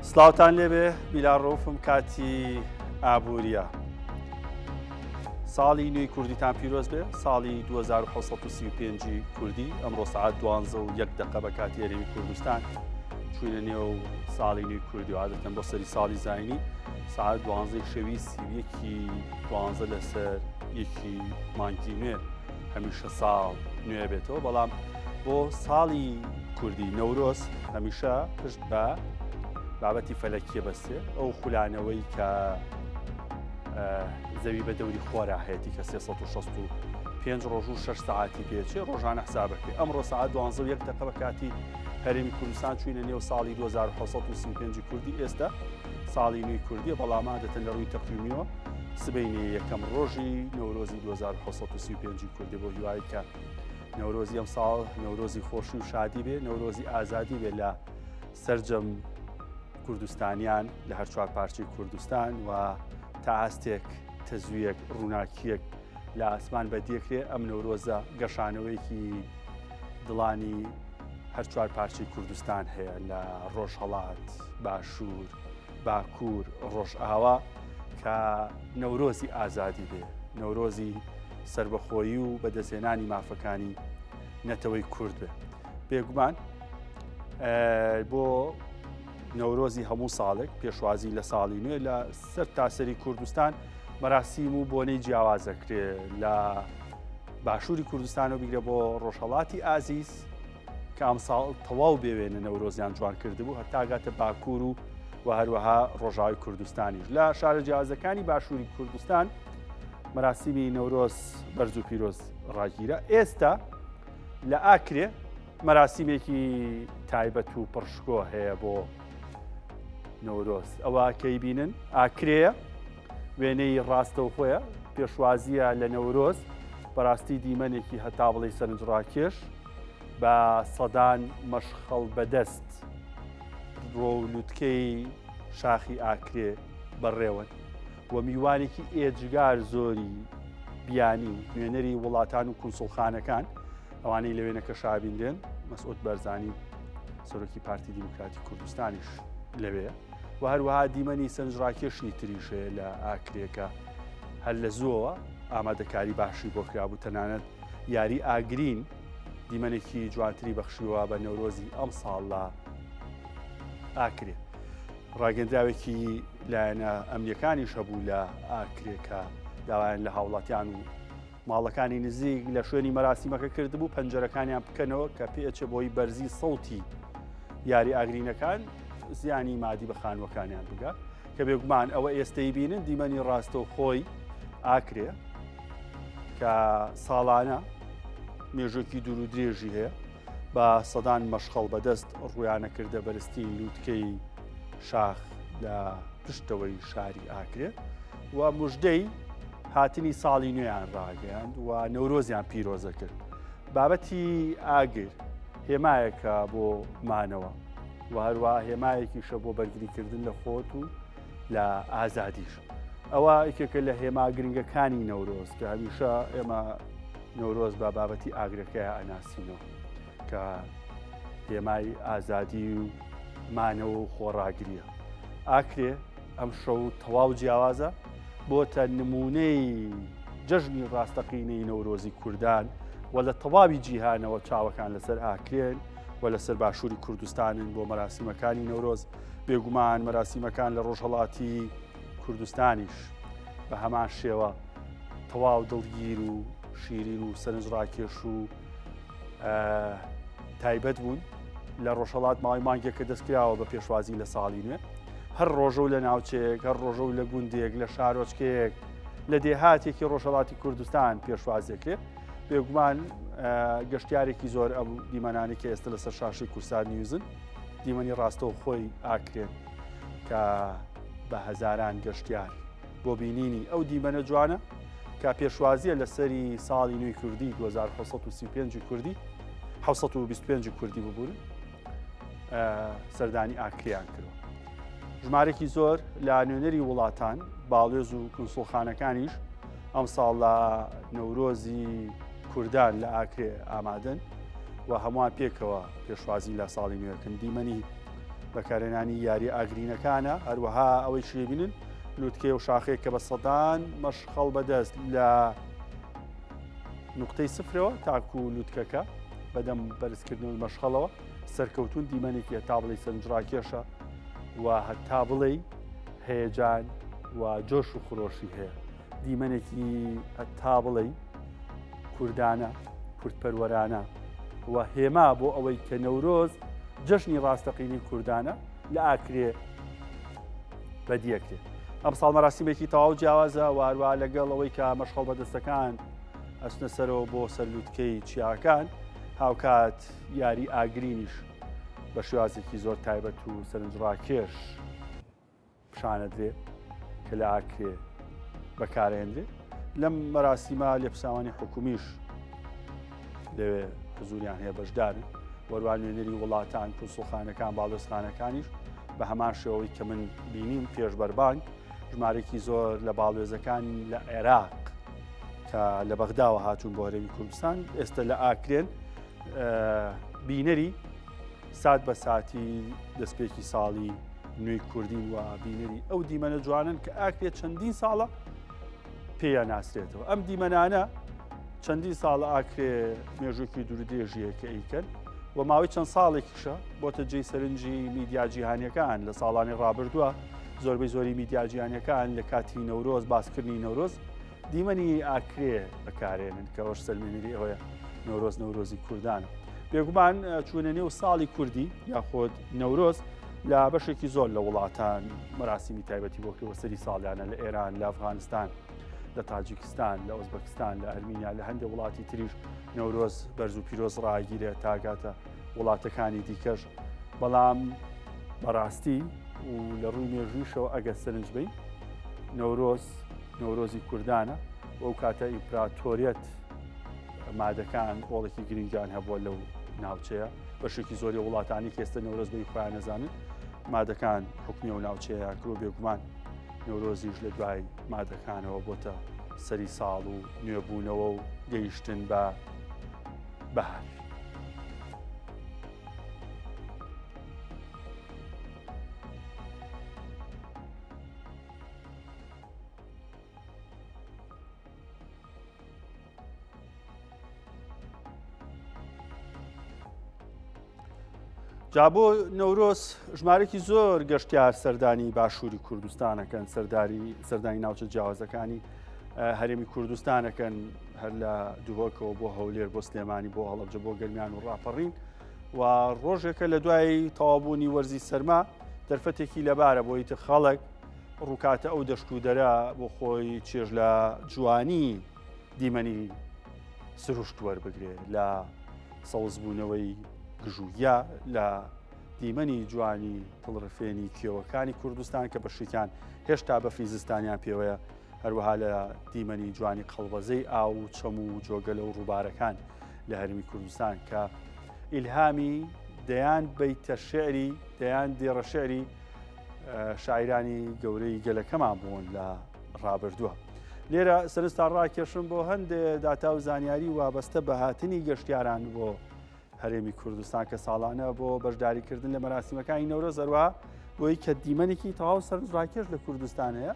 سلااوان لێبێ بیلاڕۆفم کاتی ئابووریە ساڵی نوێی کوردیتان پیرۆز بێ ساڵی 1935 کوردی ئەمڕۆ سعات دوانزە و یەک دقە بە کاتی هەرێمی کوردستان چوینە نێو ساڵی نوێی کوردی وادەکەم بۆ سەری ساڵی زینی سعات دوانزەی شەوی سیویەکی دوانزە لەسەر یەکی مانگی نوێ هەمیشە ساڵ نوێ بێتەوە بەڵام بۆ ساڵی کوردی نەورۆز هەمیشە پشت بە بابەتی فەلەکیە بەستێ ئەو خولانەوەی کە زەوی بە دەوری خۆرا هەیەی کە 365 ڕۆژ و 6 ساعتی پێچێ ڕۆژانە حسابەکە ئەمڕۆ سعات دوانزە و یەک دەقە بە کاتی هەرێمی کوردستان چوینە نێو ساڵی 1995 کوردی ئێستا ساڵی نوی کوردی بەڵام عادەتەن لە ڕووی تەقویمیەوە سبینێ یەکەم ڕۆژی نەورۆزی 1935 کوردی بۆ هیوایی کە نەورۆزی ئەم ساڵ نەورۆزی خۆشی و شادی بێ نەورۆزی ئازادی بێ لە سرجەم کوردستانیان لە هەر چوار پارچی کوردستان و تا ئاستێک تەزویەک ڕووناکیەک لە ئاسمان بەدیەکرێ ئەم نەورۆزە گەشانەوەیەکی دڵانی هەر چوار پارچەی کوردستان هەیە لە ڕۆژهەڵات، باشوور، باکوور، ڕۆژئاوا کە نەورۆزی ئازادی بێ، نەورۆزی سربەخۆیی و بەدەستێنانی مافەکانی نەتەوەی کورد بێ. بێگومان بۆ نەورۆزی هەموو ساڵێک پێشوازی لە ساڵی نوێ لە سەر تاسەری کوردستان مەراسیم و بۆنەی جیاوازەکرێ لە باشووری کوردستان و بیگرە بۆ ڕۆژهڵاتی ئازیز کە ئەمساڵ تەواو بێوێنە نەورۆزیان جوان کردبوو هەتاگاتە باکوور و و هەروەها ڕۆژاوی کوردستانیش لە شارە جیازەکانی باشووری کوردستان مەراسیمی نەورۆز بەرز و پیرۆز ڕاگیرە ئێستا لە ئاکرێ مەراسیمێکی تایبەت و پڕشکۆ هەیە بۆ نەورۆز ئەوە کەی بینن ئاکرەیە وێنەی ڕاستەوخۆیە پێشوازیە لە نەورۆز بەڕاستی دیمەنێکی هەتا بڵی سەرنجڕاکێش بە سەدان مەشخەڵ بەدەست ڕۆ و لوتکەی شاخی ئاکرێ بەڕێوەن و میوانێکی ئێجگار زۆری بیانی و نوێنەری وڵاتان و کونسڵخانەکان ئەوانەی لە وێنەکە شابیندرێن مەسعود بەرزانی سەرۆکی پارتی دیموکراتی کوردستانیش لەوێ و هەروەها دیمەنی سنجڕاکێشی تریش هەیە لە ئاکرێکە هەر لە زووەوە ئامادەکاری باشی بۆ کرابوو تەنانەت یاری ئاگرین دیمەنێکی جوانتری بەخشیوە بە نەورۆزی ئەم ساڵ لە ئاکرێ ڕاگەندراوێکی لایەنە ئەمنیەکانیش هەبوو لە ئاکرێکە داوایان لە هاوڵاتیان و ماڵەکانی نزیک لە شوێنی مەراسیمەکە کردبوو پەنجەرەکانیان بکەنەوە کە پێچێ بۆی بەرزی سەوتی یاری ئاگرینەکان زیانی مادی بە خانوەکانیان بگە کە بێگومان ئەوە ئێستەی بینن دیمەنی ڕاستە و خۆی ئاکرێ کە ساڵانە مێژۆکی دوور و درێژی هەیە بە سەدان مەشخەڵ بەدەست ڕویانە کردە بەرزترین لووتکەی شاخ لە پشتەوەی شاری ئاکرێت و مژدەی هاتنی ساڵی نوێیان ڕاگەیاند و نەورۆزیان پیرۆزە کرد بابەتی ئاگر هێمایەکە بۆ مانەوە و هەروە هێمایەکیشە بۆ بەرگریکردن لە خۆت و لە ئازادیش ئەوە یکێکە لە هێما گرنگەکانی نەورۆز کە هەمیشە ئێمە نەورۆز بە بابەتی ئاگرەکەی ئەناسینەوە کە هێمای ئازادی و مانەوە و خۆڕاگریە ئاکرێ ئەم شەو تەواو جیاوازە بۆتە نمونەی جەژنی ڕاستەقینەی نەورۆزی کوردان و لە تەواوی جیهانەوە چاوەکان لەسەر ئاکرێن و لەسەر باشووری کوردستانن بۆ مەراسیمەکانی نەورۆز بێگومان مەراسیمەکان لە ڕۆژهڵاتی کوردستانیش بە هەمان شێوە تەواو دڵگیر و شیرین و سەرنجڕاکێش و تایبەت بوون لە ڕۆژهڵات ماوەی مانگێکە دەستکراوە بە پێشوازی لە ساڵی نوێ هەر ڕۆژە و لە ناوچەیەک هەر ڕۆژە و لە گوندێک لە شارۆچکەیەک لە دێهاتێکی ڕۆژهڵاتی کوردستان پێشواز دەکرێت بێگومان گەشتارێکی زۆر ئەم دیمەنانێکی ئێستا لەسەر شاشی کورسان نیوزن دیمەنی ڕاستەوە خۆی ئاکرێن کە بە هەزاران گەشتیار بۆ بینینی ئەو دیمەنە جوانە کە پێشوازیە لە سەری ساڵی نوێی کوردی 1935 کوردی 1925 کوردی ببوون سەردانی ئاکریان کرد. ژمارێکی زۆر لە نوێنەری وڵاتان باڵێز و کنسڵخانەکانیش ئەم ساڵ لە نەورۆزی کوردان لە ئاکرێ ئامادەن و هەمووان پێکەوە پێشوازی لە ساڵی نوێکن دیمەنی بەکارێنانی یاری ئاگرینەکانە هەروەها ئەوەی شێبینن لوتکێ و شاخێک کە بە سەدان مەشخەڵ بەدەست لە نقطەی سفرەوە تاکو و لوتکەکە بەدەم بەرزکردنەوە مەشخەڵەوە سەرکەوتون دیمەنێکی هەتا بڵی سنجڕاکێشە و هەتا بڵێ هەیەجان و جۆش و خرۆشی هەیە دیمەنێکی تا بڵێ کوردانە کوردپەروەرانە و هێما بۆ ئەوەی کە نەورۆز جەشنی ڕاستەقینی کوردانە لە ئاکرێ بەدیەکرێت ئەم ساڵ مەراسیمێکی تەواو جیاوازە واروا لەگەڵ ئەوەی کە مەشخەڵ بەدەستەکان ئەسنە سەرەوە بۆ سەرلووتکەی چیاکان هاوکات یاری ئاگرینیش بە شێوازێکی زۆر تایبەت و سەرنجڕاکێش پیشاندرێ کە لە ئاکرێ بەکارهێنرێ لەم مەراسیمە لێپساوانی حکومیش لەوێ حزوریان هەیە بەشدار وەروان نوێنەری وڵاتان کوسڵخانەکان باڵستانەکانیش بە هەمان شێوەی کە من بینیم پێش بەربانگ ژمارێکی زۆر لە باڵێزەکان لە عێراق کە لە بەغداوە هاتوون بۆ هەرێمی کوردستان ئێستا لە ئاکرێن بینەری سات بە ساتی دەستپێکی ساڵی نوێی کوردین و بینەری ئەو دیمەنە جوانن کە ئاکرێ چەندین ساڵە پێیان ناسرێتەوە ئەم دیمەنانە چەندین ساڵە ئاکرێ مێژووکی دوورودێژیە کە ئیکەن و ماوەی چەند ساڵێکیشە بۆتە جێی سەرنجی میدیا جیهانیەکان لە ساڵانی ڕابردووە زۆربەی زۆری میدیاجییانەکان لە کاتی نەورۆز باسکردنی نەورۆز دیمەنی ئاکرێ بەکارێنن کە ئەوش سەلمێنری ئەوەیە نەورۆز نەورۆزی کوردانە بێگومان چوونە نێو ساڵی کوردی یاخۆت نەورۆز لە بەشێکی زۆر لە وڵاتان مەراسیمی تایبەتی بۆ کرێوەسەری ساڵیانە لە ئێران لە ئەفغانستان لە تاجیکستان لە ئۆزبەکستان لە ئەرمینیا لە هەندێک وڵاتی تریش نەورۆز بەرز و پیرۆز ڕاگیرێ تاگاتە وڵاتەکانی دیکەش بەڵام بەڕاستی و لە ڕووی مێژویشەوە ئەگە سەرنج بین نەورۆز نەورۆزی کوردانە و ئەو کاتە ئیمپراتۆریەت مادەکان ڕۆڵێکی گرنگیان هەبووە لەو ناوچەیە بەشێکی زۆری وڵاتانی کێستە نەورۆز بەی خۆیان نەزانن مادەکان حکمی و ناوچەیە کرۆ بێگومان نەورۆزیش لە دوای مادەکانەوە بۆتە سەری ساڵ و نوێبوونەوە و گەیشتن بە بەهار. جا بۆ نەورۆز ژمارێکی زۆر گەشتیار سەردانی باشووری کوردستانەکەن سەرداری سەردانی ناوچە جیاوازەکانی هەرێمی کوردستانەکەن هەر لە دووەکەوە بۆ هەولێر بۆ سلێمانی بۆ هەڵبجە بۆ گەرمیان و ڕاپەڕین و ڕۆژێکە لە دوای تەوابوونی وەرزی سەرما دەرفەتێکی لەبارە بۆی تر خەڵک ڕووکاتە ئەو دەشت و دەرە بۆ خۆی چێژ لە جوانی دیمەنی سروشت وەربگرێ لە سەوزبوونەوەی گژوگیا لە دیمەنی جوانی تڵڕفێنی کێوەکانی کوردستان کە بەشیکان هێشتا بەفری زستانیان پێوەیە هەروەها لە دیمەنی جوانی قەڵبەزەی ئاو و چەم و جۆگەلە و ڕووبارەکان لە هەرمی کوردستان کە ئیلهامی دەیان بیتە شعری دەیان دێڕە شعری شاعیرانی گەورەی گەلەکەمان بوون لە ڕابردووە. لێرە سەرستا ڕاکێشم بۆ هەندێ داتا و زانیاری وابەستە بە هاتنی گەشتیاران بۆ هەرێمی کوردستان کە ساڵانە بۆ بەشداریکردن لە مەراسیمەکانی نەورە زەروە بۆی کە دیمەنێکی تەواو سەرنجڕاکێش لە کوردستان هەیە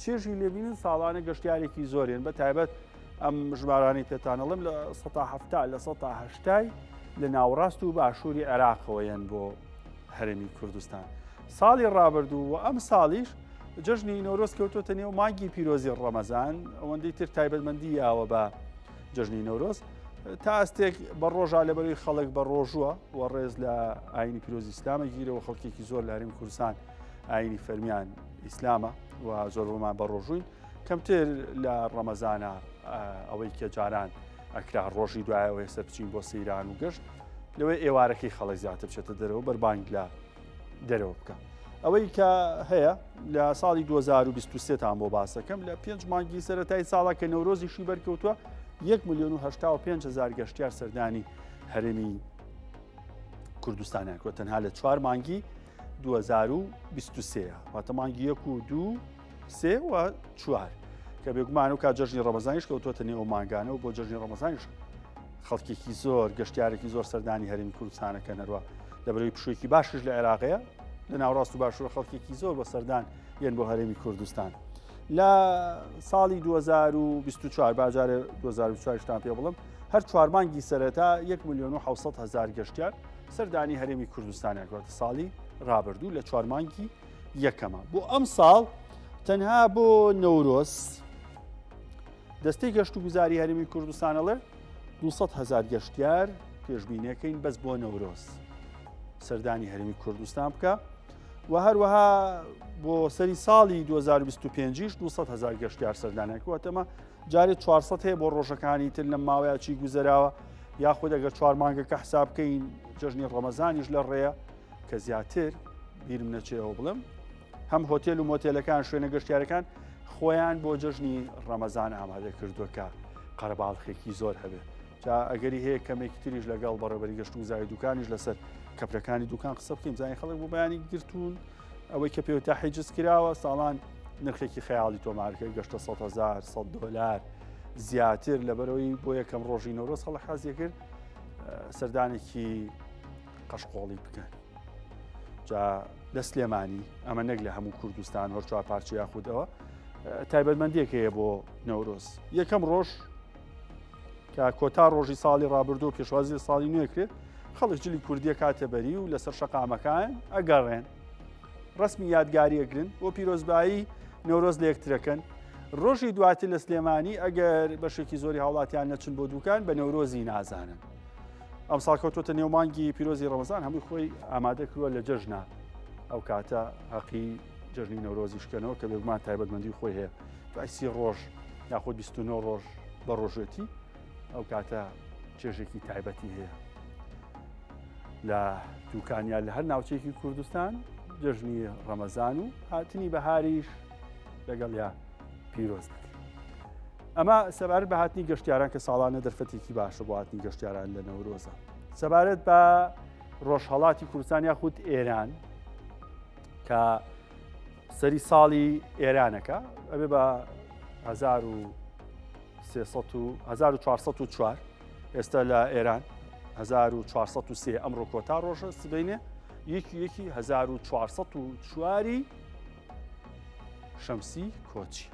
چێژی لێبین و ساڵانە گەشتارێکی زۆرێن بە تایبەت ئەم ژمارانی پێتانەڵم لە 1970 لە 1970 لە ناوڕاست و باشووری عێراقەوەیەن بۆ هەرێمی کوردستان ساڵی ڕابردوو و ئەم ساڵیش جەژنی نۆرۆز کەوتۆتە نێو مانگی پیرۆزی ڕەمەزان ئەوەندەی تر تایبەتمەندی یاوە بە جەژنی نۆرۆز تا ئەستێک بە ڕۆژە لە بەروی خەڵک بە ڕۆژووە و ڕێز لە ئاینی پیرۆزی ئسلامە گیرەوە خەڵکێکی زۆر لاریم کوردستان ئاینی فەرمیان ئیسلامە و زۆرمان بە ڕۆژووین کەمتر لە ڕەمەزانە ئەوەی کە جاران ئەکرا ڕۆژی دوای ئەوەی سەر بچین بۆ سەیران و گەشت لەوەی ئێوارەکەی خەڵک زیاتر بچێتە دەرەوە بەربانگ لە دەرەوە بکە ئەوەی کە هەیە لە ساڵی 2023تان بۆ باسەکەم لە پێنج مانگی سەتای ساڵە کە نەورۆزیشی بەرکەوتووە 1 میلیۆن و 5 هزار گەشتیار سەردانی هەرێمی کوردستانیانکۆ تەنها لە چوار مانگی 2023 واتە مانگی یەک و دوو سێ و چوار کە بێگومان و کا جژنی ڕەمەزانیش کەوتوتە نێو ماگانە و بۆ جژنی ڕەمەزانیش خەڵکێکی زۆر گەشتارێکی زۆر سەردانی هەرمی کوردستانەکە نەروە لە بەرەوەی پشوێکی باشش لە عێراقەیە لە ناوڕاست و باشوە خەڵکێکی زۆر بە سەردان یەن بۆ هەرێمی کوردستان لە ساڵی 2024 باجارێ 2024تان پێ بڵم هەر چوارمانگی سەرەتا 1 میلیۆن و 600 هزار گەشتیار سەردانی هەرێمی کوردستانیان گوتە ساڵی ڕابردوو لە چوارمانگی یەکەمە بۆ ئەم ساڵ تەنها بۆ نەورۆز دەستەی گەشت و گوزاری هەرمی کوردستانەڵێ 200 هزار گەشتیار پێشبینەکەین بەس بۆ نەورۆز سەردانی هەرمی کوردستان بکە و هەروەها بۆ سەری ساڵی 2025 200 هزار گەشتیار سەردانەکەوەتەمە جارێ 400 هەیە بۆ ڕۆژەکانی تر لەم ماوەیەکی گوزەراوە یاخود ئەگەر چوار مانگەکە حساب بکەین جژنی ڕەمەزانیش لە ڕێە کە زیاتر بیرم نەچێەوە بڵم هەم هۆتێل و مۆتێلەکان شوێنە گەشتارەکان خۆیان بۆ جەژنی ڕەمەزان ئامادە کردوەکە قەرەباڵخێکی زۆر هەبێت جا ئەگەری هەیە کەمێکی تریش لەگەڵ بەڕێبەری گەشت و زای دوکانیش لەسەر کەپرەکانی دوکان قسە بکەین زانانی خەڵک بۆ بەیانی گرتوون ئەوەی کە پێوتا حیجز کراوە ساڵان نرخێکی خەیاڵی تۆمارکە گەشتە 100هزار 100 دلار زیاتر لەبەرەوەی بۆ یەکەم ڕۆژی نەورۆز هەڵ حازیە کرد سەردانێکی قەشقۆڵی بکەن جا لە سلێمانی ئەمە نەک لە هەموو کوردستان هەر چوار پارچە یاخودەوە تایبەتمەندێک هەیە بۆ نەورۆز یەکەم ڕۆژ کە کۆتا ڕۆژی ساڵی ڕابردوو پێشوازی ساڵی نوێکرێت خەڵک جلی کوردیە کاتە بەری و لەسەر شەقامەکان ئەگەڕێن ڕسمی یادگاریەگرن بۆ پیرۆزبایی نەورۆز لەکترەکەن ڕۆژی دواتر لە سلێمانی ئەگەر بەشێکی زۆری هاوڵاتیان نەچن بۆ دوکان بە نەورۆزی نازانن ئەمساڵ کەوتوتە نێو مانگی پیرۆزی ڕەمەزان هەمووی خۆی ئامادە کردووە لە جەژنە ئەو کاتە هەقی جژنی نەورۆزی شکەنەوە کە بێگومان تایبەتمەندی خۆی هەیە دوایسی ڕۆژ یاخود 29 ڕۆژ بە ڕۆژێتی ئەو کاتە چێژێکی تایبەتی هەیە لە دوکانیا لە هەر ناوچێکی کوردستان جژنی ڕەمەزان و هاتنی بەهاریش لەگەڵ یا پیرۆز بێت. ئەمە سەبارەت بە هاتنی گەشتیاران کە ساڵانە دەرفەتێکی باشە بۆ هاتنی گەشتیاران لە نەورۆزە سەبارەت بە ڕۆژهڵاتی کوردستان یاخود ئێران کە سەری ساڵی ئێرانەکە ئەبێ بە 1940 ئێستا لە ئێران 1940 ئەمڕۆ کۆتا ڕۆژە سبینێ یەکی یەکی 1940 چواری شەمسی کۆچی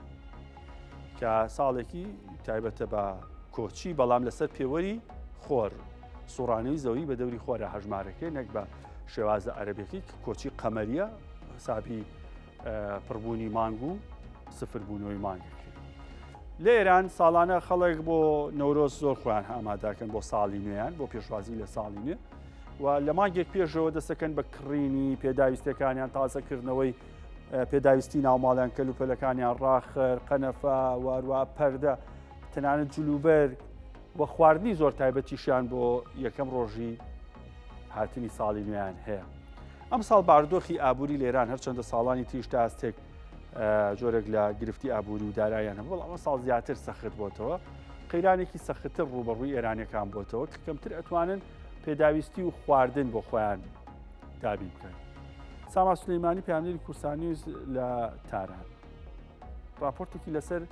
کە ساڵێکی تایبەتە بە کۆچی بەڵام لەسەر پێوەری خۆر سوڕانی و زەوی بە دەوری خۆرە هەژمارەکەی نەک بە شێوازە عەربێکی کۆچی قەمەریە حسابی پڕبوونی مانگ و سفربوونەوەی مانگەکەی لە ئێران ساڵانە خەڵک بۆ نەورۆز زۆر خۆیان ئاماداکەن بۆ ساڵی نوێیان بۆ پێشوازی لە ساڵی نوێ و لە مانگێک پێشەوە دەسەکەن بە کڕینی پێداویستەکانیان تازەکردنەوەی پێداویستی ناوماڵیان کەل و پەلەکانیان ڕاخر قەنەفا واروا پەردە تەنانەت جلوبەر و خواردنی زۆر تایبەتیشیان بۆ یەکەم ڕۆژی هاتنی ساڵی نوێیان هەیە ئەم ساڵ باردۆخی ئابووری لێران هەرچەندە ساڵانی تیشتاستێک جۆرێک لە گرفتی ئابووری و دارایان هەبوو بەڵام ئەم ساڵ زیاتر سەخت بۆتەوە قەیرانێکی سەختتر ڕوبەڕووی ئێرانەکان بۆتەوە کە کەمتر ئەتوانن پێداویستی و خواردن بۆ خۆیان دابین بکەن ساما سلەیمانی پامنێری کورسانیوز لە تاران راپۆرتێکی لەسەر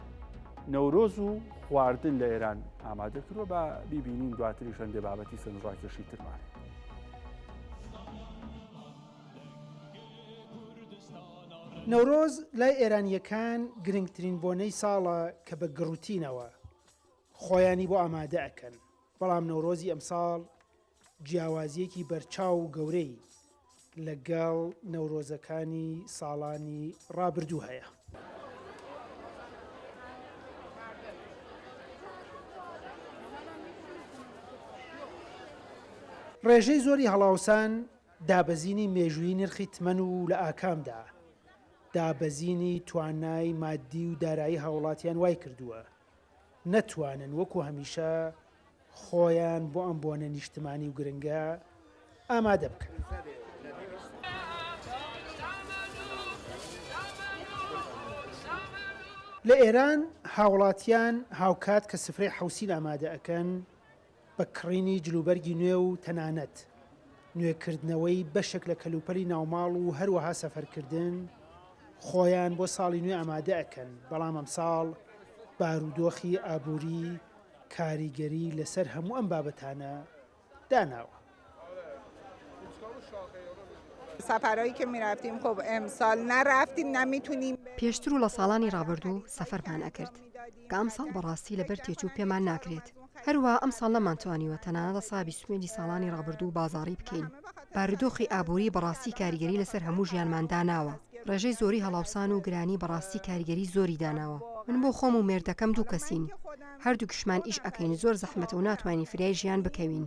نەورۆز و خواردن لە ئێران ئامادە کردوە بە بیبینین دواتری شەندێ بابەتی سنجڕاکێشی ترمان. نەورۆز لای ئێرانییەکان گرنگترین بۆنەی ساڵە کە بە گڕوتینەوە خۆیانی بۆ ئامادە ئەکەن، بەڵام نەورۆزی ئەمساڵ جیاوازییەکی بەرچاو و گەورەی لەگەڵ نەورۆزەکانی ساڵانی ڕابردوو هەیە. ڕێژەی زۆری هەڵاوسان، دابەزینی مێژوویی نرخی تمەن و لە ئاکامدا دابەزینی توانای ماددی و دارایی هاوڵاتیان وایکردووە نەتوانن وەکو هەمیشە خۆیان بۆ ئەم بۆنە نیشتمانی و گرنگە ئامادە بکەن. لە ئێران هاوڵاتیان هاوکات کە سفرەی حوسین ئامادە ئەکەن بە کڕینی جلوبەرگی نوێ و تەنانەت نوێکردنەوەی بەشێک لە کەلوپەلی ناوماڵ و هەروەها سەفەرکردن، خۆیان بۆ ساڵی نوێ ئامادە ئەکەن، بەڵام ئەمساڵ بارودۆخی ئابووری کاریگەری لەسەر هەموو ئەم بابەتانە داناوە. پێشتر و لە ساڵانی ڕابردوو سەفەرمان ئەکرد کە ئەم ساڵ بەڕاستی لەبەر تێچوو پێمان ناکرێت هەروا ئەم ساڵ نەمانتوانیوە تەنانەت حسابی سوێندی ساڵانی ڕابردوو بازاڕی بکەین بارودۆخی ئابووری بەڕاستی کاریگەری لەسەر هەموو ژیانمان داناوە ڕێژەی زۆری هەڵاوسان و گرانی بەڕاستی کاریگەری زۆری داناوە من بۆ خۆم و مێردەکەم دوو کەسین هەردووکیشمان ئیش ئەکەین زۆر زەحمەتە و ناتوانین فریای ژیان بکەوین.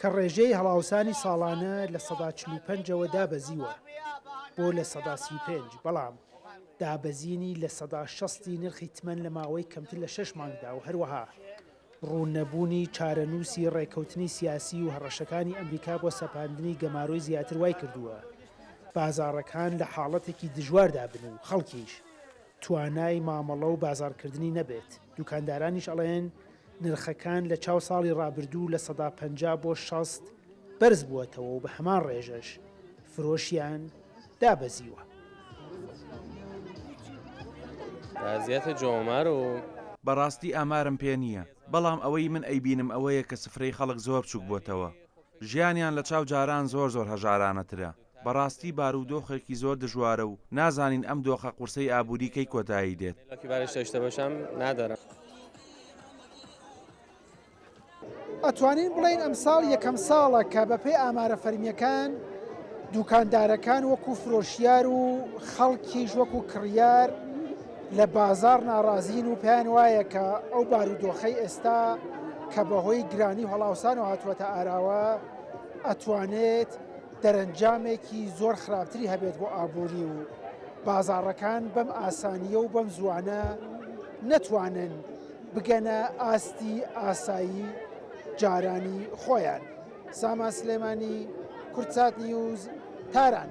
کە ڕێژەی هەڵاوسانی ساڵانە لە سەدا چل و پەنج ەوە دابەزیوە بۆ لە سەدا سی و پێنج، بەڵام دابەزینی لە سەدا شەست ی نرخی تمەن لە ماوەی کەمتر لە شەش مانگدا و هەروەها ڕوون نەبوونی چارەنووسی ڕێککەوتنی سیاسی و هەڕەشەکانی ئەمریکا بۆ سەپاندنی گەمارۆی زیاتر وایکردووە بازاڕەکان لە حاڵەتێکی دژواردا بن و خەڵکیش توانای مامەڵە و بازاڕکردنی نەبێت، دوکاندارانیش ئەڵێن نرخەکان لە چاو ساڵی رابردوو لە سەدا پەنجا بۆ شەست بەرز بووەتەوە و بە هەمان رێژەش فرۆشیان دابەزیوە. بەڕاستی ئامارم پێ نییە، بەڵام ئەوەی من ئەیبینم ئەوەیە کە سفرەی خەڵک زۆر بچووک بۆتەوە، ژیانیان لە چاو جاران زۆر زۆر هەژارانەترە. بەڕاستی بارودۆخێکی زۆر دژوارە و نازانین ئەم دۆخە قورسەی ئابووری کەی کۆتایی دێت. ئەتوانین بڵێین ئەمساڵ یەکەم ساڵە کە بەپێی ئامارە فەرمییەکان دووکاندارەکان وەکو فرۆشیار و خەڵکیش وەکو کڕیار لە بازاڕ ناڕازین و پێیان وایە کە ئەو بارودۆخەی ئێستا کە بەهۆی گرانی و هەڵاوسان و هاتووەتە ئاراوە ئەتوانێت دەرەنجامێکی زۆر خراپتری هەبێت بۆ ئابووری و بازاڕەکان بەم ئاسانییە و بەم زووانە نەتوانن بگەنە ئاستی ئاسایی جارانی خۆیان سامان سلێمانی کورد سات نیوز تاران.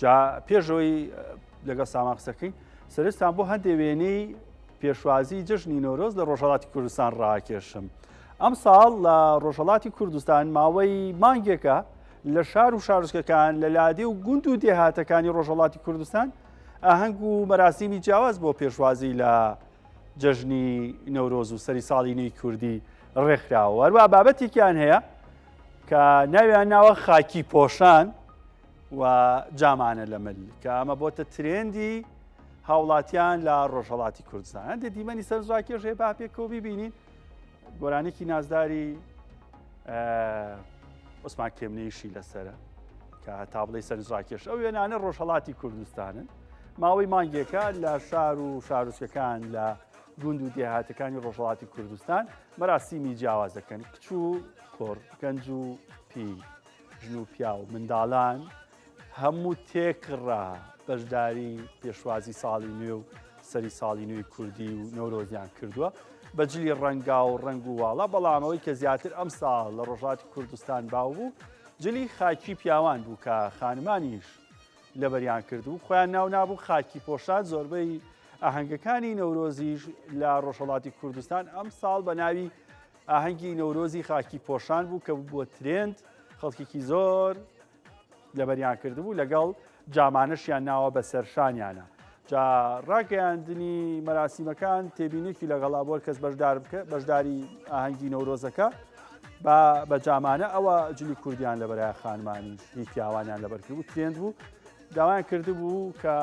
جا پێشەوەی لەگەڵ سامان قسەکەین سەرستان بۆ هەندێ وێنەی پێشوازی جژنی نۆرۆز لە ڕۆژهڵاتی کوردستان ڕاکێشم ئەم ساڵ لە ڕۆژهڵاتی کوردستان ماوەی مانگێکە لە شار و شارستکەکان لە لادێ و گوند و دێهاتەکانی ڕۆژهڵاتی کوردستان ئاهەنگ و مەراسیمی جیاواز بۆ پێشوازی لە جەژنی نەورۆز و سەری ساڵی نوێی کوردی ڕێکخراوە هەروە بابەتێکیان هەیە کە ناویان ناوە خاکی پۆشان و جامانە لە مل کە ئەمە بۆتە ترێندی هاوڵاتیان لە ڕۆژهڵاتی کوردستان هەندێک دیمەنی سەر زاکێش هەیە با پێکەوە ببینین گۆرانێکی نازداری عوسمان کێمنیشی لەسرە کە هەتا بڵی سەرزاکێش ئەو وێنانە ڕۆژهڵاتی کوردستانن ماوەی مانگێکە لە شار و شارچەکان لە گوند و دێهاتەکانی ڕۆژهڵاتی کوردستان مەراسیمی جیاواز دەکەن کچ و کۆر گەنج و پی ژن و پیاو منداڵان هەموو تێکڕا بەشداری پێشوازی ساڵی نوێ و سەری ساڵی نوێی کوردی و نەورۆزیان کردووە بەجلی ڕەنگا و ڕنگ و واڵە بەڵامەوەی کە زیاتر ئەم ساڵ لە ڕۆژاتی کوردستان باو بوو جلی خاکی پیاوان بوو کە خانمانیش لەبەریان کردو خۆیان ناو نابوو خاکی پۆشان زۆربەی ئاهەنگەکانی نەورۆزیش لە ڕۆژهڵاتی کوردستان ئەم ساڵ بە ناوی ئاهەنگی نەورۆزی خاکی پۆشان بوو کە بووە ترێند خەڵکێکی زۆر لەبەریان کردبوو لەگەڵ جامانەشیان ناوە بە سەرشانیانە جا ڕاگەیاندنی مەراسیمەکان تێبینێکی لەگەڵا بۆر کەس بەشدار بکە بەشداری ئاهەنگی نەورۆزەکە با بە جامانە ئەوە جلی کوردیان لە بەرای خانمانی هی پیاوانیان لەبەرکرد و ترێند بوو داوایان کرد بوو کە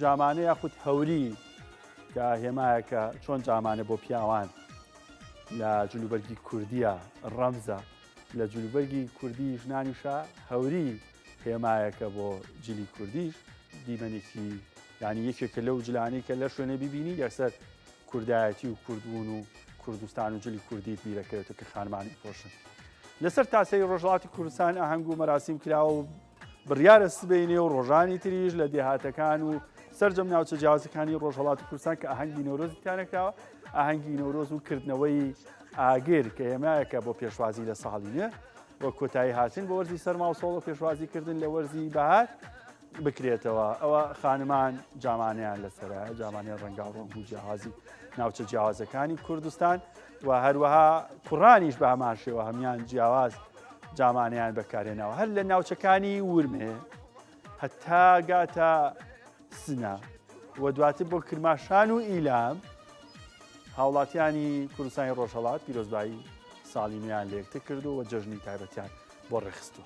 جامانە یاخود هەوری کە هێمایەکە چۆن جامانە بۆ پیاوان لە جلوبەرگی کوردییە ڕەمزە، لە جلوبەرگی کوردیی ژنانیشە هەوری هێمایەکە بۆ جلی کوردیش، دیمەنێکی یانی یەکێکە لەو جلانەی کە لە شوێنێ ببینی یەکسەر کوردایەتی و کوردبوون و کوردستان و جلی کوردیت بیرەکەوێتە کە خانمانی پۆشن لەسەر تاسەری ڕۆژهڵاتی کوردستان ئاهەنگ و مەراسیم کراوە و بڕیارە سبەینێ و ڕۆژانی تریش لە دێهاتەکان و سرجەم ناوچە جیازەکانی ڕۆژهڵاتی کوردستان کە ئاهەنگی نۆرۆزی تیانەکراوە ئاهەنگی نۆرۆز و کردنەوەی ئاگر کە هێمایەکە بۆ پێشوازی لە ساڵی نوێ بۆ کۆتایی هاتن بۆ وەرزی سەرما و سۆڵ و پێشوازی کردن لە وەرزی بەهار بکرێتەوە ئەوە خانمان جامانیان لەسرە جامانیان ڕەنگا ڕۆنگ و جیاوازی ناوچە جیاوازەکانی کوردستان و هەروەها کوڕانیش بە هەمان شێوە هەمان جیاواز جامانیان بەکارێناوە هەر لە ناوچەکانی ورمێ هەتا گاتە سنە و دواتر بۆ کرماشان و ئیلام هاوڵاتیانی کوردستانی ڕۆژهڵات پیرۆزبایی ساڵی نوێیان لێکتە کردو و جەژنی تایبەتیان بۆ ڕێخستوە.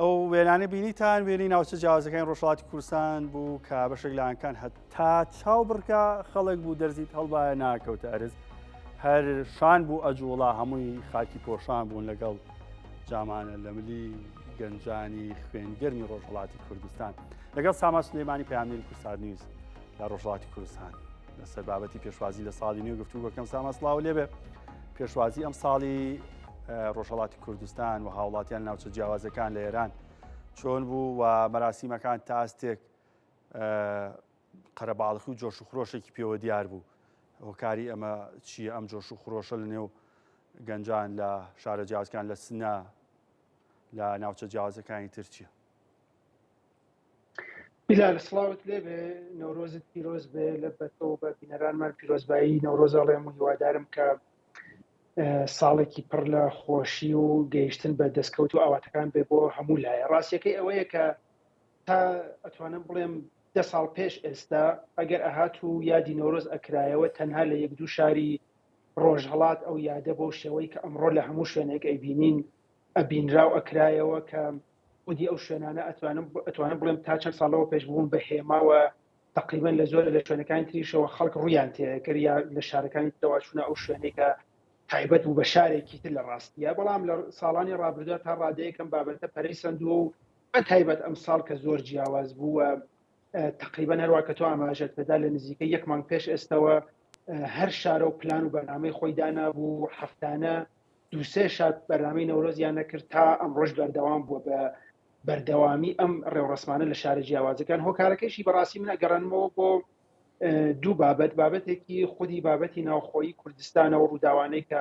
ئەو وێنانە بینیتان وێنی ناوچە جیاوازەکانی ڕۆژهڵاتی کوردستان بوو کە بەشێک لایەنکان هەتا چاو بڕکە خەڵک بوو دەرزیت هەڵبایە ناکەوتە ئەرز هەر شان بوو ئەجوڵا هەمووی خاکی پۆشان بوون لەگەڵ جامانە لە ملی گەنجانی خوێنگەرمی ڕۆژهڵاتی کوردستان لەگەڵ ساما سلێمانی پامیر کوردستان نیوز لە ڕۆژهڵاتی کوردستان لەسەر بابەتی پێشوازی لە ساڵی نوێ گفتوگەکەم ساما سلااو لێبێ پێشوازی ئەم ساڵی ڕۆژهڵاتی کوردستان و هاوڵاتیان ناوچە جیاوازەکان لە ئێران چۆن بوو و مەراسیمەکان تاستێک قەرەباڵخی و جۆش و خرۆشێکی پێوە دیار بوو هۆکاری ئەمە چییە ئەم جۆش و خرۆشە لە نێو گەنجان لە شارە جیازکان لە سنە لە ناوچە جیازەکانی ترچیە بیلال سڵاوت لێبێ نەورۆزت پیرۆز بێ لە بەتەوە بە بینەرانمان پیرۆزبایی نەورۆز ئەڵێم و هیوادارم کە ساڵێکی پڕ لە خۆشی و گەیشتن بە دەستکەوت و ئاواتەکان بێ بۆ هەموو لایە ڕاستیەکەی ئەوەیە کە تا ئەتوانم بڵێم دە ساڵ پێش ئێستا ئەگەر ئەهات و یادی نەورۆز ئەکرایەوە تەنها لە یەک دوو شاری ڕۆژهڵات ئەو یادە بۆ شێوەی کە ئەمڕۆ لە هەموو شوێنێک ئەیبینین ئەبینرا و ئەکرایەوە کە خودی ئەو شوێنانە ئەتوانم ئەتوانم بڵێم تا چەند ساڵ لەوە پێش بووم بە هێماوە تقریبان لە زۆر لە شوێنەکانی تریشەوە خەڵک ڕویان تێکرد یا لە شارەکانی ترەوە چونە ئەو شوێنەی کە تایبەت بوو بە شارێکی تر لە ڕاستیە بەڵام لە ساڵانی ڕابردا تا ڕادەیەکەم بابەتە پەرەی سندووە و بە تایبەت ئەم ساڵ کە زۆر جیاواز بووە تقریبا هەروە کە تۆ ئاماژەت پێدا لە نزیکە یەکمان پێش ئێستەوە هەر شارە و پلان و بەنامەی خۆی دانابوو هەفتانە دوو سێ شاد بەرنامەی نەورۆزیان نەکرد تا ئەمڕۆژ بەردەوام بووە بە بەردەوامی ئەم ڕێوڕسمانە لە شارە جیاوازەکان هۆکارەکەشی بەڕاستی من ئەگەڕنمەوە بۆ دوو بابەت بابەتێکی خودی بابەتی ناوخۆی کوردستانە و ڕووداوانەی کە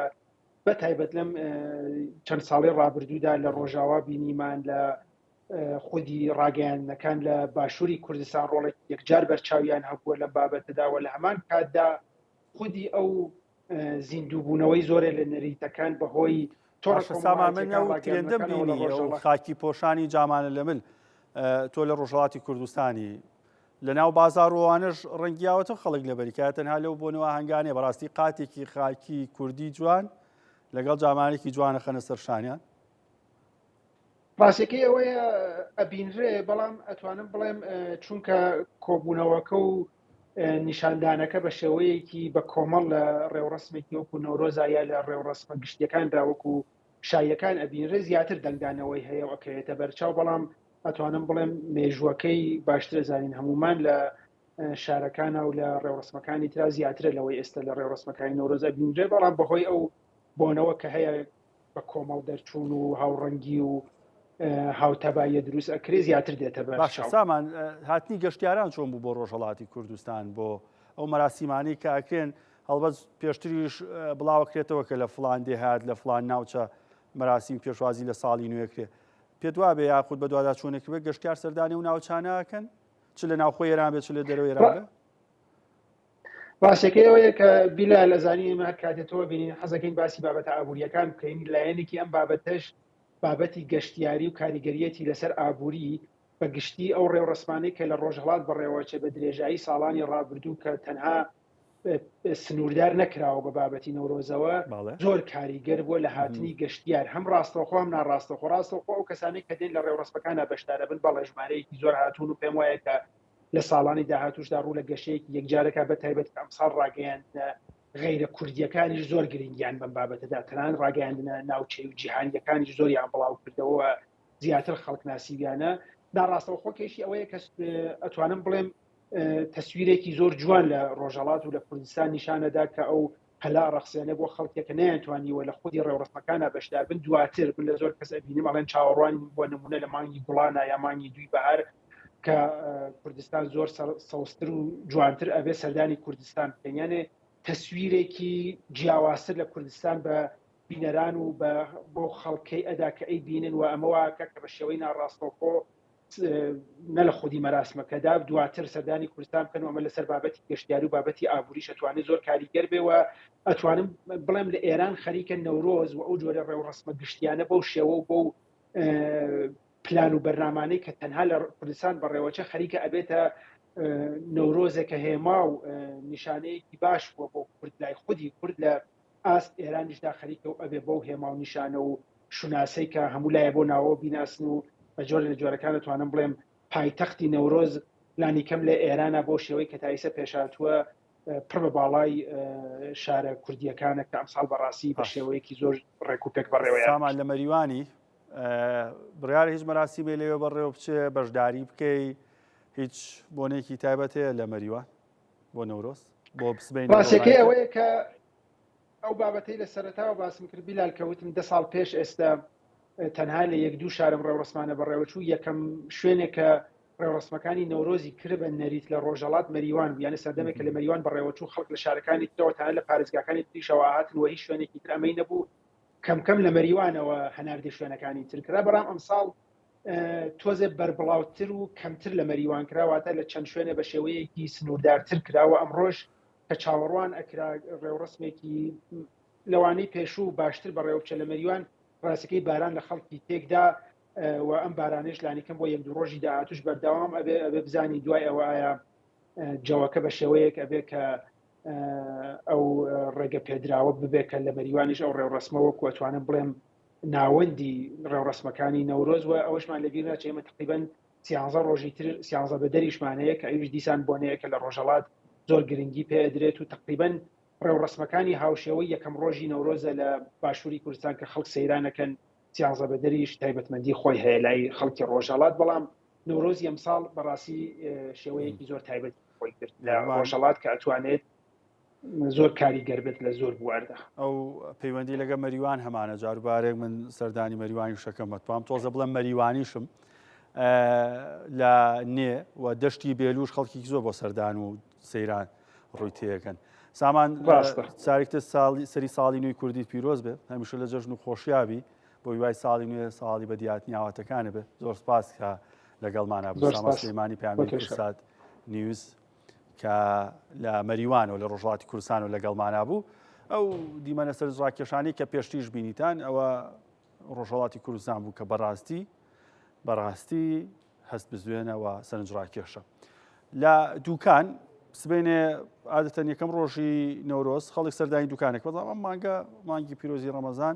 بە تایبەت لەم چەند ساڵی ڕابردوودا لە ڕۆژاوا بینیمان لە خودی ڕاگەیانەکان لە باشووری کوردستان ڕۆڵێک یەکجار بەرچاویان هەبووە لە بابەتەداوە لە هەمان کاتدا خودی ئەو زیندووبوونەوەی زۆرێ لە نەریتەکان بەهۆی تۆڕسامامەندێندەم بینی خاکی پۆشانی جامانە لە مل تۆ لە ڕۆژهڵاتی کوردستانی لە ناو بازارڕوانش ڕەنگیاوەتە خەڵک لە بەریکات تەنها لەو بۆنەوە هەنگانێ بەڕاستی قاتێکی خاکی کوردی جوان لەگەڵ جامانێکی جوانە خەنە سەرشانیان ڕاستەکەی ئەوەیە ئەبینرێ بەڵام ئەتوانم بڵێم چونکە کۆبوونەوەکە و نیشاندانەکە بە شێوەیەکی بە کۆمەڵ لە ڕێوڕسمێکی وەکو نۆرۆزا یا لە ڕێوڕسمە گشتیەکان داوەکو شایەکان ئەبینرێ زیاتر دەنگدانەوەی هەیە و ئەکەوێتە بەرچاو بەڵام ئەتوانم بڵێم مێژووەکەی باشتر زانین هەمومان لە شارەکانە و لە ڕێوڕسمەکانی ترا زیاترە لەوەی ئێستا لە ڕێوڕسمەکانی نۆرۆز ئەبینرێ بەڵام بەهۆی ئەو بۆنەوە کە هەیە بە کۆمەڵ دەرچوون و هاوڕەنگی و هاوتەباییە دروست ئەکرێ زیاتر دێتە باش سامان هاتنی گەشتیاران چۆن بوو بۆ ڕۆژهڵاتی کوردستان بۆ ئەو مەراسیمانی کە ئەکرێن هەڵبەت پێشتریش بڵاوکرێتەوە کە لە فلان دێهات لە فلان ناوچە مەراسیم پێشوازی لە ساڵی نوێکرێ پێت وابێ یاخود بە دوادا چۆنێک بێ گەشتار سەردانی و ناوچانەکەن چ لە ناوخۆ ئێران بێت چ لە دەرەوە ئێران ڕاستەکەی ئەوەیە کە بیلا لە زانی ئمە هەر کاتێت تۆ بینین حەزەکەین باسی بابەتە ئابوووریەکان بکەین لایەنێکی ئەم بابەتەش بابەتی گەشتیاری و کاریگەریەتی لەسەر ئابووری بە گشتی ئەو ڕێوڕسمانەی کە لە ڕۆژهڵات بەڕێوەچێ بە درێژایی ساڵانی ڕابردوو کە تەنها سنووردار نەکراوە بە بابەتی نەورۆزەوە زۆر کاریگەر بووە لە هاتنی گەشتیار هەم ڕاستەوخۆم ناڕاستەخۆ ڕاستەخۆ ئەو کەسانی کە دێن لە ڕێوڕستەکانە بەشدارە بن بەڵێ ژمارەیەکی زۆر هاتوون و پێم وایە کە لە ساڵانی داهاتوشدا ڕوو لە گەشەیەکی یەکجارەکە بە تایبەت ئەمساڵ ڕاگەیاندنە غیرە کوردیەکانیش زۆر گرنگیان بەم بابەتەدا تەنان ڕاگەیاندنە ناوچەی و جیهانیەکانی زۆریان بڵاو کردەوە زیاتر خەڵک ناسیویانە ناڕاستەوە خۆ کێشی ئەوەیە کە ئەتوانم بڵێم تەسویرێکی زۆر جوان لە ڕۆژەڵات و لە کوردستان نیشانەدا کە ئەو پەلا ڕەخسێنە بۆ خەڵکێ کە نەیانتوانیوە لە خودی ڕێوڕەسمەکانا بەشدار بن دواتر من لە زۆر کەس ئەبینم ئەڵێن چاوەڕوانین بۆ نمونە لە مانگی گوڵانا یا مانگی دووی بەهار کە کوردستان زۆر سەوزتر و جوانتر ئەبێ سەردانی کوردستان بکەن یانێ تەسویرێکی جیاوازتر لە کوردستان بە بینەران و بۆ خەڵکەی ئەدا کە ئەی بینن و ئەمەواکە کە بە شێوەی ناڕاستەوخۆ نە لە خودی مەراسمەکەدا دواتر سەردانی کوردستان بکەن و ئەمە لەسەر بابەتی گەشتیاری و بابەتی ئابووری شەتوانێت زۆر کاریگەر بێ و ئەتوانم بڵێم لە ئێران خەریکە نەورۆز و ئەو جۆرە ڕێوڕسمە گشتیانە بەو شێوە و بۆ و پلان و بەرنامانەی کە تەنها لە کوردستان بەڕێوەچە خەریکە ئەبێتە نەورۆزێکە هێما و نیشانەیەکی باش بۆ بۆ کورد لای خودی کورد لە ئاست ئێرانیشدا خەریکە و ئەبێ بەو هێما و نیشانە و شوناسەی کە هەموو لایێ بۆ ناوەوە بیناسن و بە جۆرێ لە جۆرەکان دەتوانم بڵێم پایتەختی نەورۆز لانی کەم لە ئێرانە بەو شێوەی کە تائیسە پێشهاتووە پڕ بە باڵای شارە کوردییەکانە کە ئەمساڵ بە ڕاستی بە شێوەیەکی زۆر ڕێک و پێک بەڕێوەیان سامان لە مەریوانی بڕیارە هیچ مەراسیمێ لەوێ بەڕێوە بچێ بەشداری بکەی هیچ بۆنێکی تایبەت هەیە لە مەریوان بۆ نەورۆز بۆ سبەینێ بۆ ڕاستەکەی ڕایتر ئەوەیە کە ئەو بابەتەی لە سەرەتاوە باسم کرد بیلال کە وتم دە ساڵ پێش ئێستا اه، تەنها لە یەک دوو شارم ڕێوڕەسمانە بەڕێوەچوو یەکەم شوێنێک کە ڕێوڕەسمەکانی نەورۆزی کربە نەریت لە ڕۆژەڵات مەریوان بوو یانە سەردەمێک کە لە مەریوان بەڕێوەچوو خەڵک لە شارەکانی ترەوە تەنها لە پارێزگاکانی تریشەوە ئاهاتن و هیچ شوێنێکی تر ئەمەی نەبوو کەم کەم لە مەریوانەوە هەناردەی شوێنەکانی تر کرا بەڕام ئەمساڵ تۆزێ بەربڵاوتر و کەمتر لە مەریوان کراواتە لە چەند شوێنە بە شێوەیەکی سنووردارتر کراوە ئەمڕۆژ کە چاوەڕوان ئەکرا ڕێوڕسمێکی لەوانەی پێشوو باشتر بەڕێوچە لە مەریوان ڕاستەکەی باران لە خەڵکی تێکدا و ئەم بارانێش لانیکەم بۆ یەک دوو ڕۆژی داهاتوش بەرداوام ئەبێ ئەبێ بزانین دوای ئەوە ئایا جەوەکە بە شێوەیەک ئەبێ کە ئەو ڕێگە پێدراوە ببێت کە لە مەریوانیش ئەو ڕێوڕسمەوە کوەتوانم بڵێم ناوەندی ڕێوڕەسمەکانی نەورۆز و ئەوەشمان لە بیر ناچێت ئێمە تەقریبەن سیانزە ڕۆژی تر سیانزە بەدەریشمان هەیە کە ئەویش دیسان بۆنەیەکە لە ڕۆژەڵات زۆر گرنگی پێ ئەدرێت و تەقریبەن ڕێوڕەسمەکانی هاوشێوەی یەکەم ڕۆژی نەورۆزە لە باشووری کوردستان کە خەڵک سەیرانەکەن سیانزە بەدەریش تایبەتمەندی خۆی هەیە لای خەڵکی ڕۆژەڵات بەڵام نەورۆزی ئەمساڵ بەڕاستی شێوەیەکی زۆر تایبەت خۆی کرد لە ڕۆژەڵات کە ئەتوانێت زۆر کاری گەربێت لە زۆر بواردا. ئەو پەیوەندی لەگە مەریوان هەمانە جاروبارێک من سەردانی مەریوانی شەکەم مەتوام تۆزە بڵێم مەریوانیشم لە نێ و دەشتی بێلوش خەڵکی زۆر بۆ سەردان و سەیران ڕووی تێەکەن سامان ساریکتە ساڵی سەری ساڵی نوێی کوردی پیرۆز بێ هەمیشە لە جەژن و خۆشیاوی بۆ وای ساڵی نوێ ساڵی بە دیات نیاواتەکانە بێ زۆر سپاس کە لەگەڵمانە بۆ ساماسلمانی پێیان سات نیوز کە لە مەریوان و لە ڕۆژهڵاتی کوردستان و لەگەڵمانا بوو ئەو دیمەنە سەرزڕاکێشانی کە پێشتیش بینیتان ئەوە ڕۆژهڵاتی کوردستان بوو کە بەڕاستی بەڕاستی هەست بزوێنەوە سەرنجڕاکێشە لە دوکان سبێنێ عادەتەن یەکەم ڕۆژی نەورۆز خەڵک سەردانی دوکانێک بەڵام ئەم مانگە مانگی پیرۆزی ڕەمەزان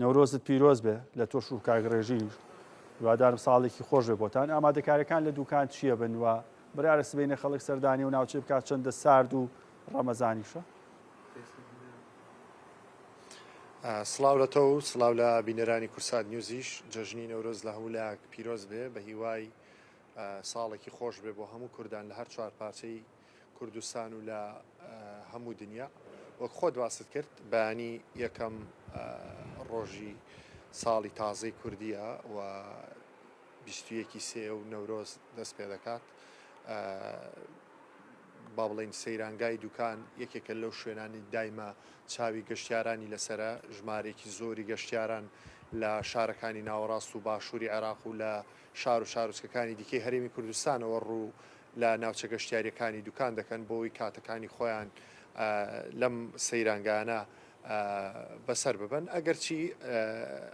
نەورۆزت پیرۆز بێ لە تۆش و کاک ڕێژیش هیوادارم ساڵێکی خۆش بێ بۆتان ئامادەکاریەکان لە دوکان چییە بن و برارە سبینە خەڵک سەردانی و ناوچەی بکات چەندە سارد و ڕەمەزانیشە سلااو لە تۆ و سلااو لە بینەرانی کورسات نیوزیش جەژنی نەورۆز لە هەموو لایەک پیرۆز بێ بە هیوای ساڵێکی خۆش بێ بۆ هەموو کوردان لە هەر چوار پارچەی کوردستان و لە هەموو دنیا وەک خۆت باست کرد بەیانی یەکەم ڕۆژی ساڵی تازەی کوردیە و بیستویەکی سێ و نەورۆز دەست پێ دەکات با بڵین سەیرانگای دوکان یەکێکە لەو شوێنانی دایمە چاوی گەشتیارانی لەسرە ژمارێکی زۆری گەشتیاران لە شارەکانی ناوەڕاست و باشووری عێراق و لە شار و شارۆچکەکانی دیکەی هەرێمی کوردستانەوە ڕوو لە ناوچە گەشتیارییەکانی دوکان دەکەن بۆوەی کاتەکانی خۆیان لەم سەیرانگانە بەسەر ببەن ئەگەرچی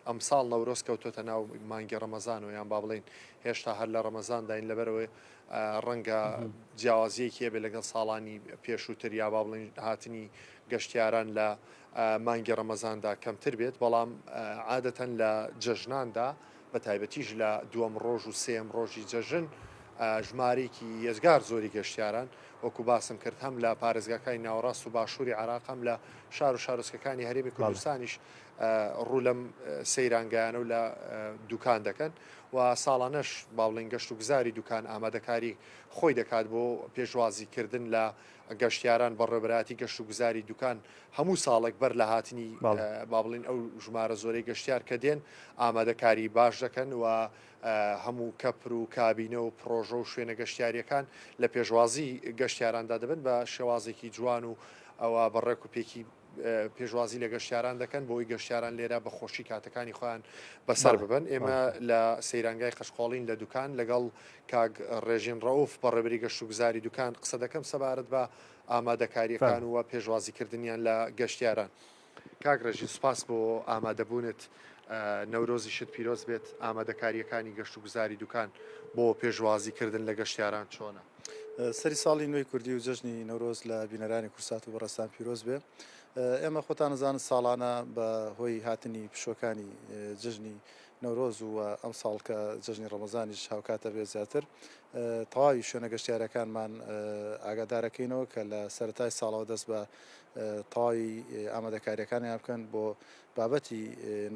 ئەمساڵ نەورۆز کەوتۆتە ناو مانگی ڕەمەزانەوە یان با بڵین هێشتا هەر لە ڕەمەزانداین لەبەرەوەی ڕەنگە جیاوازیەکی هەبێت لەگەڵ ساڵانی پێشووتر یا با بڵین هاتنی گەشتیاران لە مانگی ڕەمەزاندا کەمتر بێت بەڵام عادەتەن لە جەژناندا بە تایبەتیش لە دووەم ڕۆژ و سێیەم ڕۆژی جەژن ژمارەیەکی یەجگار زۆری گەشتیاران وەکو باسم کرد هەم لە پارێزگاکانی ناوەڕاست و باشووری عراق هەم لە شار و شارۆچکەکانی هەرێمی کوردستانیش ڕوو لەم سەیرانگەیانە و لە دوکان دەکەن و ساڵانەش باڵین گەشت و گزاری دوکان ئامادەکاری خۆی دەکات بۆ پێشوازیکردن لە گەشتیاران بەڕێوەبەرایەتی گەشت و گوزاری دوکان هەموو ساڵێک بەر لە هاتنی با بڵێن ئەو ژمارە زۆرەی گەشتیار کە دێن ئامادەکاری باش دەکەن و هەموو کەپر و کابینە و پڕۆژە و شوێنە گەشتیاریەکان لە پێشوازی گەشتیاراندا دەبن بە شێوازێکی جوان و ئەوە بە ڕێک و پێکی پێشوازی لە گەشتیاران دەکەن بۆی گەشتیاران لێرە بە خۆشی کاتەکانی خۆیان بەسەر ببن ئێمە لە سەیرانگای قەشقۆڵین لە دوکان لەگەڵ کاک ڕێژین ڕەوف بە ڕێبری گەشت و گوزاری دوکان قسە دەکەم سەبارەت بە ئامادەکاریەکان و پێشوازیکردنیان لە گەشتیاران کاک ڕێژین سوپاس بۆ ئامادەبوونت نەورۆزیشت پیرۆز بێت ئامادەکاریەکانی گەشت و گوزاری دوکان بۆ پێشوازیکردن لە گەشتیاران چۆنە؟ سەری ساڵی نوێی کوردی و جەژنی نەورۆز لە بینەرانی کورسات و بەڕستان پیرۆز بێ ئێمە خۆتانەزانن ساڵانە بە هۆی هاتنی پشۆکانی جژنی نەورۆز و ئەم ساڵ کە جژنی ڕەمەزانیش هاوکاتە بێ زیاتر تەواوی شوێنە گەشتارەکانمان ئاگادارەکەینەوە کە لە سەتای ساڵەوە دەست بە تەواوی ئامادەکاریەکانیان بکەن بۆ بابەتی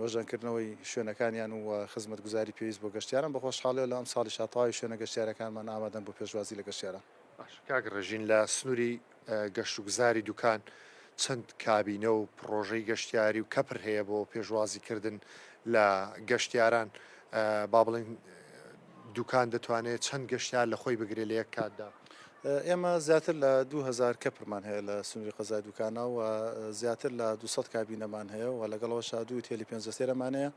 نۆژەنکردنەوەی شوێنەکانیان و خزمەتگوزاری پێویست بۆ گەشتیاران بە خۆشحاڵیەوە لە ئەمساڵیشا تەواوی شوێنە گەشتیارەکانمان ئامادەن بۆ پێشوازی لە گەشتیاران. باشە کاک ڕێژین لە سنوری گەشت و گوزاری دوکان چەند کابینە و پڕۆژەی گەشتیاری و کەپر هەیە بۆ پێشوازی کردن لە گەشتیاران با بڵێین دوکان دەتوانێت چەند گەشتیار لە خۆی بگرێت لە یەک کاتدا؟ ئێمە زیاتر لە دوو هەزار کەپرمان هەیە لە سنووری قەزای دوکانە و زیاتر لە دوو سەد کابینەمان هەیە و لەگەڵ ئەوەشا دوو هوتێلی پێنج ئەستێرەمان هەیە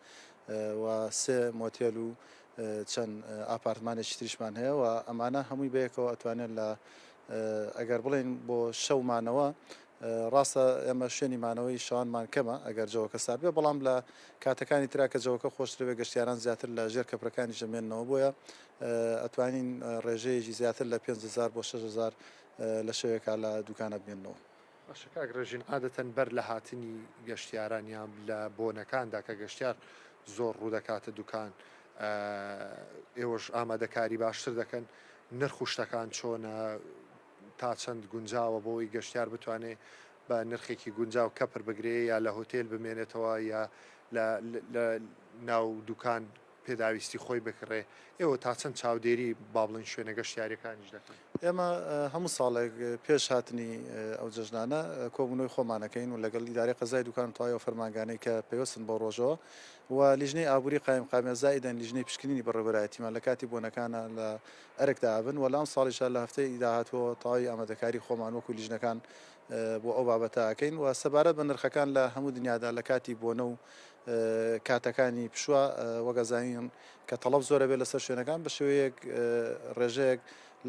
و سێ مۆتێل و چەند ئاپارتمانێکی تریشمان هەیە و ئەمانە هەمووی بەیەکەوە ئەتوانێت لە ئەگەر بڵێین بۆ شەو مانەوە ڕاستە ئێمە شوێنی مانەوەی شەوانمان کەمە ئەگەر جەوەکە سارد بێت، بەڵام لە کاتەکانی ترا کە جەوەکە خۆشتر بێت گەشتیاران زیاتر لە ژێر کەپرەکانیش دەمێننەوە، بۆیە ئەتوانین ڕێژەیەکی زیاتر لە پێنج هەزار بۆ شەش هەزار لە شەوێکا لە دوکانە بمێننەوە. باشە کاک ڕێژین عادەتەن بەر لە هاتنی گەشتیاران یان لە بۆنەکاندا کە گەشتیار زۆر ڕوودەکاتە دوکان ئێوەش ئامادەکاری باشتر دەکەن، نرخ و شتەکان چۆنە؟ تا چەند گونجاوە بۆوەی گەشتیار بتوانێ بە نرخێکی گونجاو کەپر بگرێ یا لە هۆتێل بمێنێتەوە یا لە لە ناو دوکان پێداویستی خۆی بکڕێ، ئێوە تا چەند چاودێری با بڵێین شوێنە گەشتیاریەکانیش دەکەن؟ ئێمە هەموو ساڵێک پێش هاتنی ئەو جەژنانە کۆبوونەوەی خۆمان ئەکەین و لەگەڵ ئیدارەی قەزای دوکان تەواوی ئەو فەرمانگانەی کە پەیوەستن بەو ڕۆژەوە و لیژنەی ئابووری قایمقامیە زائیدەن لیژنەی پشکنینی بەڕێوەبەرایەتیمان لە کاتی بۆنەکانا لە ئەرک دابن و لەم ساڵیشدا لە هەفتەی داهاتووەوە تەواوی ئامادەکاری خۆمان وەکو لیژنەکان بۆ ئەو بابەتە ئەکەین و سەبارەت بە نرخەکان لە هەموو دنیادا لە کاتی بۆنە و کاتەکانی پشووە وەک ئەزانین کە تەڵەب زۆر ئەبێت لەسەر شوێنەکان بە شێوەیەک ڕێژەیەک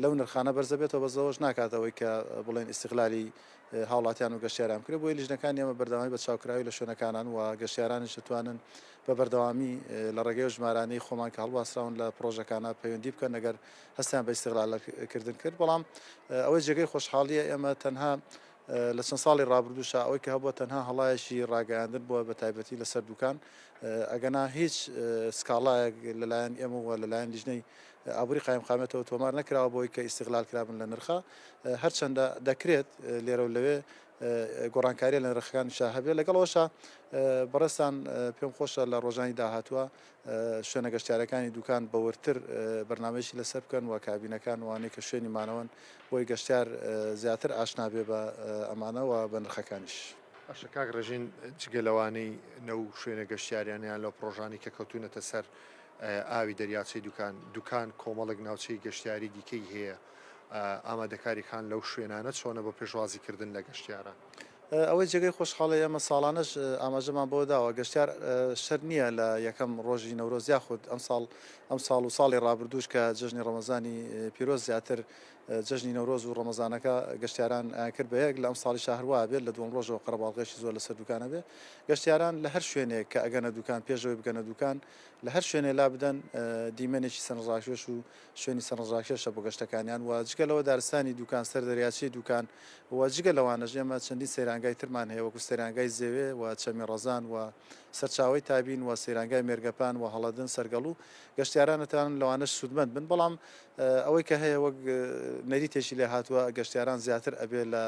لەو نرخانە بەرز دەبێتەوە بەس ئەوەش ناکات ئەوەی کە بڵێن ئیستیغلالی هاوڵاتیان و گەشتیاران بکرێت بۆیە لیژنەکان ئێمە بەردەوامی بە چاوکراوی لە شوێنەکانان و گەشتیارانیش دەتوانن بە بەردەوامی لە ڕێگەی ئەو ژمارانەی خۆمان کە هەڵواسراون لە پڕۆژەکانە پەیوەندی بکەن ئەگەر هەستیان بە ئیستغلالە کردن کرد بەڵام ئەوەی جێگەی خۆشحاڵیە ئێمە تەنها لە چەند ساڵی ڕابردووشە ئەوەی کە هەبووە تەنها هەڵایەکی ڕاگەیاندن بووە بە تایبەتی لەسەر دوکان ئەگەنا هیچ سکاڵایەک لەلایەن ئێمە وە لەلایەن لیژنەی ئابووری قایمقامێتەوە تۆمار نەکراوە بۆی کە ئیسیغلال کرابن لە نرخە هەرچەندە دەکرێت لێرە و لەوێ گۆڕانکاریە لەنرخەکانی شا هەبێت لەگەڵ ئەوەشا بەڕێستان پێم خۆشە لە ڕۆژانی داهاتوە شوێنە گەشتارەکانی دوکان بەوەرتر بەرنمەشی لەسەر بکەن و کابینەکان وانەی کە شوێنی مانەوەن بۆی گەشتار زیاتر ئاشنابێ بە ئەمانەوە بە نرخەکانیش. باشە کاک ڕێژین جگە لەوانەی نە و شوێنە گەشتیاریانیان لەو پرۆژانی کە کەوتونەتە سەر ئاوی دەریاچەی دوکان دوکان کۆمەڵێک ناوچەی گەشتیاری دیکەی هەیە ئامادەکاری کان لەو شوێنانە چۆنە بۆ پێشوازی کردن لە گەشتیاران؟ ئەوەی جێگەی خۆشحاڵی ئێمە ساڵانەش ئاماژەمان بۆ داوە گەشتیار شەر نییە لە یەکەم ڕۆژی نەورۆز یاخود ئەم ساڵ ئەم ساڵ و ساڵی ڕابردووش کە جژنی ڕەمەزانی پیرۆز زیاتر جژنی نەورۆز و ڕەمەزانەکە گەشتیاران کرد بە یەک لە ئەم ساڵی شهروە بێت لە دوم ڕۆژەوە قەرەباڵغێکی زۆر لەسەر دوکانە بێ گەشتیاران لە هەر شوێنێک کە ئەگەنە دوکان پێشەوەی بگەنە دوکان لە هەر شوێنێ لا بدەن دیمەنێکی سەرنجڕاکێش و شوێنی سەرنجڕاکێشە بۆ گەشتەکانیان و جگە لەوە دارستانی دوکان، سەر دەریاچەی دوکان و جگە لەوانەش ئێمە چەندین سەیرانگای ترمان هەیە وەکو سەیرانگای زێوێ و چەمی ڕەزان و سەرچاوەی تابین و سەیرانگای مێرگەپان و هەڵەدن سەرگەڵوو گەشتیاران ئەتوانن لەوانەش سوودمەند بن بەڵام ئەوەی کە هەیە وەک نەریتێکی لێ هاتووە گەشتیاران زیاتر ئەبێ لە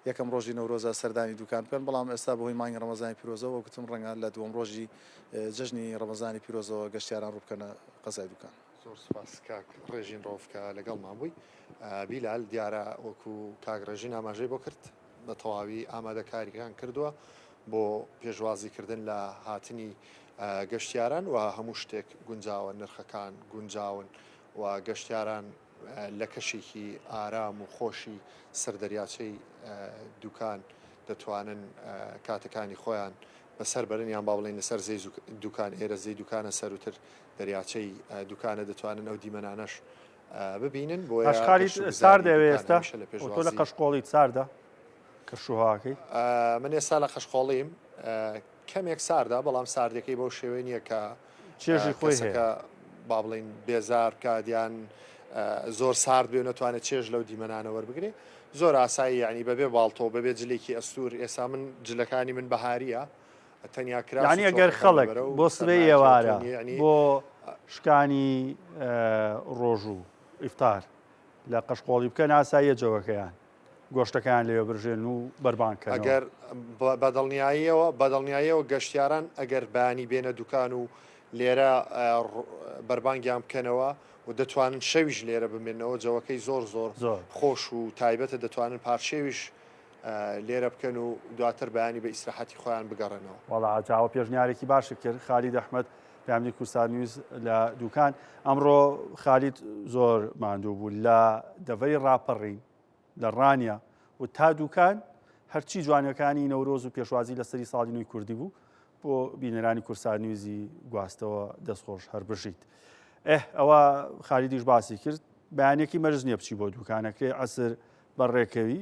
یەکەم ڕۆژی نەورۆزا سەردانی دوکان بکەن بەڵام ئێستا بەهۆی مانگی ڕەمەزانی پیرۆزەوە وەک وتم ڕەنگە لە دووەم ڕۆژی جەژنی ڕەمەزانی پیرۆزەوە گەشتیاران ڕووبکەنە قەزای دوکان. زۆر سوپاس کاک ڕێژین ڕەوف کە لەگەڵمان بووی. بیلال دیارە وەکو کاک ڕێژین ئاماژەی بۆ کرد بە تەواوی ئامادەکارییەکان کردووە بۆ پێشوازی کردن لە هاتنی گەشتیاران و هەموو شتێک گونجاوە نرخەکان گونجاون و گەشتیاران لە کەشێکی ئارام و خۆشی سەر دەریاچەی دوکان دەتوانن کاتەکانی خۆیان بەسەر بەرن یان با بڵێین لەسەر زێی دوکان ئێرە زێی دوکانە سەروتر دەریاچەی دوکانە دەتوانن ئەو دیمەنانەش ببینن بۆ ئەشقالی ساردە ئێستا تۆ لە قەشقۆڵیت ساردە کە شوهاکەی من ئێستا لە قەشقۆڵیم کەمێک ساردا بەڵام ساردەکەی بەو شێوەی نییە کە چێژی خۆیەکە با بڵین بێزار کادیان زۆر سارد بێ نەتوانێت چێژ لەو دیمەنانە وەربگرێ زۆر ئاسایی یعنی بەبێ باڵتۆ بەبێ جلێکی ئەستور ئێسا من جلەکانی من بەهاریە یەعنی ئەگەر خەڵک بۆ سبەی ئێوارە بۆ شکانی ڕۆژ و ئیفتار لە قەشقۆڵی بکەن ئاساییە جەوەکەیان گۆشتەکان لێ برژێن و بەربانکە ئەگەر بەدڵنیاییەوە بەدڵنیاییەوە گەشتیاران ئەگەر بانی بێنە دوکان و لێرە بەربانگیان بکەنەوە و دەتوانن شەویش لێرە بمێنەوە جەوەکەی زۆر زۆر زۆر خۆش و تایبەتە دەتوانن پارچێویش لێرە بکەن و دواتر بەیانی بە ئیسراحەتی خۆیان بگەڕێنەوە. وەڵا جاوە پێشنیارێکی باشت کرد خالید ئەحمەد پاملی کوردستان نیوز لە دوکان ئەمڕۆ خالید زۆر ماندوو بوو لە دەڤەری ڕاپەڕین لە ڕانیە و تا دوکان هەرچی جوانەکانی نەورۆز و پێشوازی لە سەری ساڵی نوێی کوردی بوو بۆ بینەرانی کورسان نیوزی گواستەوە دەستخۆش هەر بژیت ئه ئەوە خالیدیش باسی کرد بەیانێکی مەرز نیە بچی بۆ دوکانەکەی عسر بەڕێکەوی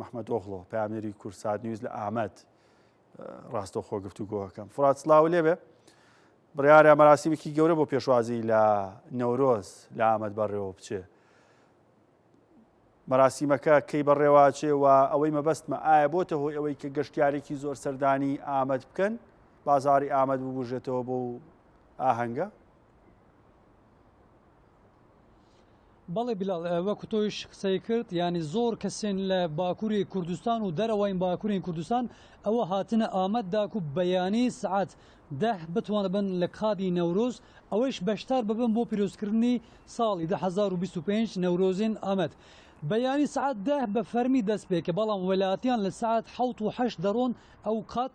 مەحمەدئۆغڵۆ، پەیامنێری کوردسات نیوز لە ئامەد ڕاستەوخۆ گفتوگۆەکەم. فرات سڵاو لێبێ بڕیارە مەراسیمێکی گەورە بۆ پێشوازی لە نەورۆز لە ئامەد بەڕێوە بچێ. مەراسیمەکە کەی بەڕێواچێ و ئەوەی مەبەستمە ئایا بۆتە هۆی ئەوەی کە گەشتیارێکی زۆر سەردانی ئامەد بکەن بازاری ئامەد ببژێتەوە بۆ ئاهەنگە بەڵێ بلال وەکو تۆیش قسەی کرد ینی زۆر کەسێن لە باکووری کوردستان و دەرەوەین باکوورین کوردستان ئەوە هاتنە ئامەد داک و بەیانی سعات ده بتوانە بن لە کادی نەورۆز ئەوەیش بەشدار ببن بۆ پیرۆزکردنی ساڵی 2025 نەورۆزین ئامەد. بەیانی سعات ده بە فەرمی دەست پێکە بەڵام وەلاتیان لە سعات حوت و هەشت دەڕۆن ئەو قات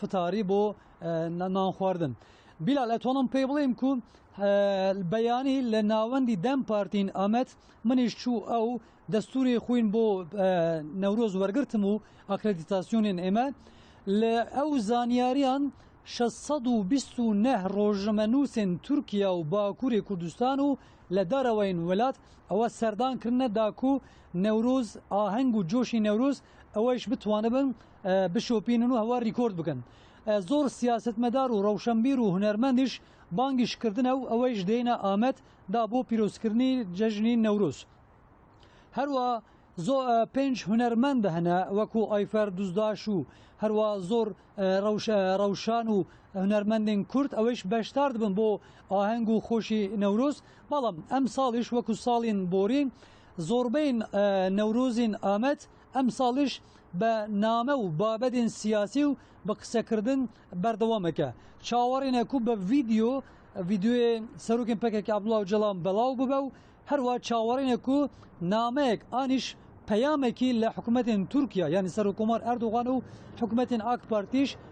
فتاری بۆ نان خواردن بیلال ئەتوانم پێی بڵێم کو بەیانی لە ناوەندی دەم پارتین ئەمەد منیش چوو ئەو دەستوری خوین بۆ نەورۆز وەرگتم و ئاکرەدیتاسیۆنین ئێمە لە ئەو زانیاریان 629 ڕۆژمەنووسێن تورکیا و باکووری کوردستان و لە دارەوەین وڵات ئەوە سەردانکردە داکو نەورۆز ئاهەنگ و جۆشی نەورۆز ئەوەیش بتوانبن بشۆپینن و هەوا ریکۆرد بکەن زۆر سیاست مەدار و ڕەوشەمبیر و هونەرمەندیش بانگیش کردنە و ئەوەیش دێنە ئامەد دا بۆ پیرۆزکردنی جەژنی نەورۆز هەروە زۆ پێنج هونەرمەندە هەنە وەکو ئایفەر دوزداش و هەروە زۆر ڕەوشان و هونەرمەندین کورد ئەوەیش بەشدار دبن بۆ ئاهەنگ و خۆشی نەورۆز بەڵام ئەم ساڵیش وەکو ساڵین بۆرین زۆربەین نەورۆزین ئامەد ئەمساڵیش بە نامە و بابەتێن سیاسی و بە قسەکردن بەردەوامەکە چاوەڕێنە کو بە ڤیدیۆ ڤیدیۆێ سەرۆکن پەکەکە عبدڵاو جەڵام بەڵاو ببە و هەروە چاوەڕێنە کو نامەیەک ئانیش پەیامێکی لە حکوومەتێن تورکیا یانی سەرۆکۆمار ئەردوغان و حکوومەتێن ئاک پارتیش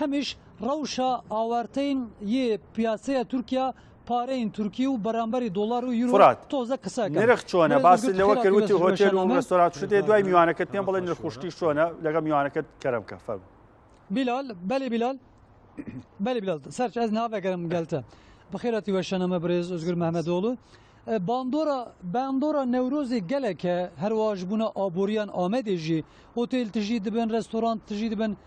هەمیش ڕەوشە ئاوارتەین یێ پیاسەیە تورکیا پارەین تورکی و بەرامبەری دۆڵار و یورۆ تۆزە قسە نرخ چۆنە باس لەوە کەوتی هۆتێل و ڕێستۆرات شتێ دوای میوانەکەت پێم بڵێ نرخشتی چۆنە لەگە میوانەکەت کەرم کە فەرم بیلال بەلی بیلال بەلی بیلال سەر ئەز ناوەگەرم گەلتە بەخێراتی وەشەنەمە برێز ئۆزگر مەمەدۆڵو باندۆرە باندۆرە نەورۆزی گەلێکە هەرواش بوونە ئابووریان ئامەدێژی هۆتێل تژی دبن ڕێستۆران تژی دبن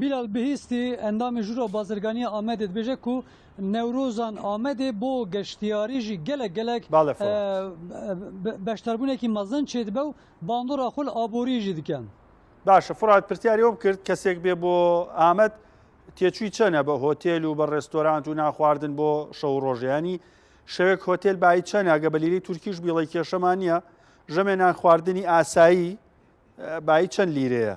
بیلال بهیستی ئەندامی ژورا بازرگانیە ئامەدێ دبێژێ کو نەورۆزان ئامەدێ بۆ گەشتیاری ژی گەلەک گەلەک بەشداربونێکی مەزن چێدبە و باندۆرا خول ئابوری ژی دکەن. باشە فڕات پرسیاری ئەو بکرد کەسێک بێ بۆ ئامەد تێچوی چەنە بە هۆتێل و بە ڕێستۆرانت و نانخواردن بۆ شەو و ڕۆژ یانی شەوێک هۆتێل بایی چەنە گە بە لیرەی تورکیش بیڵی کێشەمان نییە ژەمێ نانخواردنی ئاسایی بایی چەند لیرەیە؟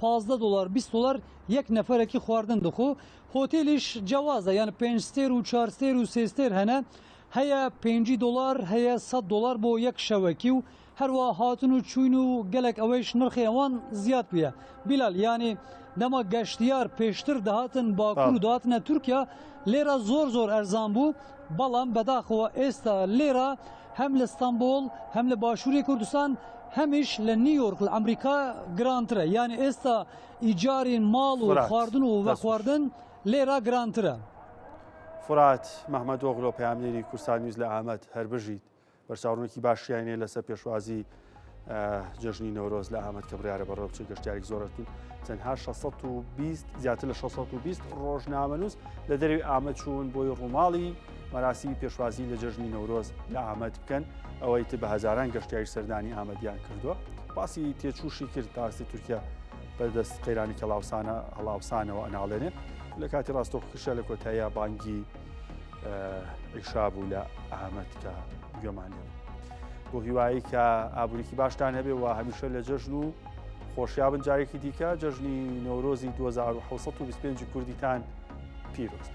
پازدە دۆلار بیست دۆلار یەک نەفەرەکی خواردن دخۆ هۆتێلیش جیاوازە یان پێنج ستێر و چوار ستێر و سێ ستێر هەنە هەیە پێنجی دۆلار هەیە سەد دۆلار بۆ یەک شەوەکی و هەروە هاتن و چوین و گەلک ئەوەیش نرخی ئەوان زیاد بویە بیلال یانی دەما گەشتیار پێشتر دەهاتن باکوور و بەڵێ داتنە تورکیا لێرە زۆر زۆر ئەرزان بوو بەڵام بەداخەوە ئێستا لێرە هەم لە ستەمبوڵ هەم لە باشووری کوردستان هەمیش لە نیویۆرک لە ئەمریکا گرانترە یان ئێستا ئیجاری ماڵ و خواردن و بەخواردن لێرا گرانترە. فرات مەحمەدۆغلۆ پەیامنێری کورسانیوز لە ئامەد، هەربژیت. بەرچاوڕوونێکی باشیان نیە لەسەر پێشوازی جەژنی نەورۆز لە ئامەد کە بڕارە بەڕێو بچێت گەشتارێک زۆرت بوو تەنها 620 زیاتر لە 620 ڕۆژنامەنووس لە دەروی ئامە چوون بۆی ڕووماڵی مەراسی پێشوازی لە جەژنی نەورۆز لە ئامەد بکەن ئەوەی تر بە هزاران گەشتیاری سەردانی ئامەدیان کردووە باسی تێچوشی کرد تاستی تورکیا بەدەست قەیرانی کەڵاوسانە هەڵاوسانەوە ئەناڵێنێ لە کاتی ڕاستۆخشە لە کۆتاییا بانگی عیشا بوو لە ئامەد کە گوێمان لێ بۆ هیوایی کە ئابووریکی باشتان هەبێ و هەمیشە لە جەژن و خۆشیابن جارێکی دیکە جەژنی نۆرۆزی 1925 کوردیتان پیرۆست.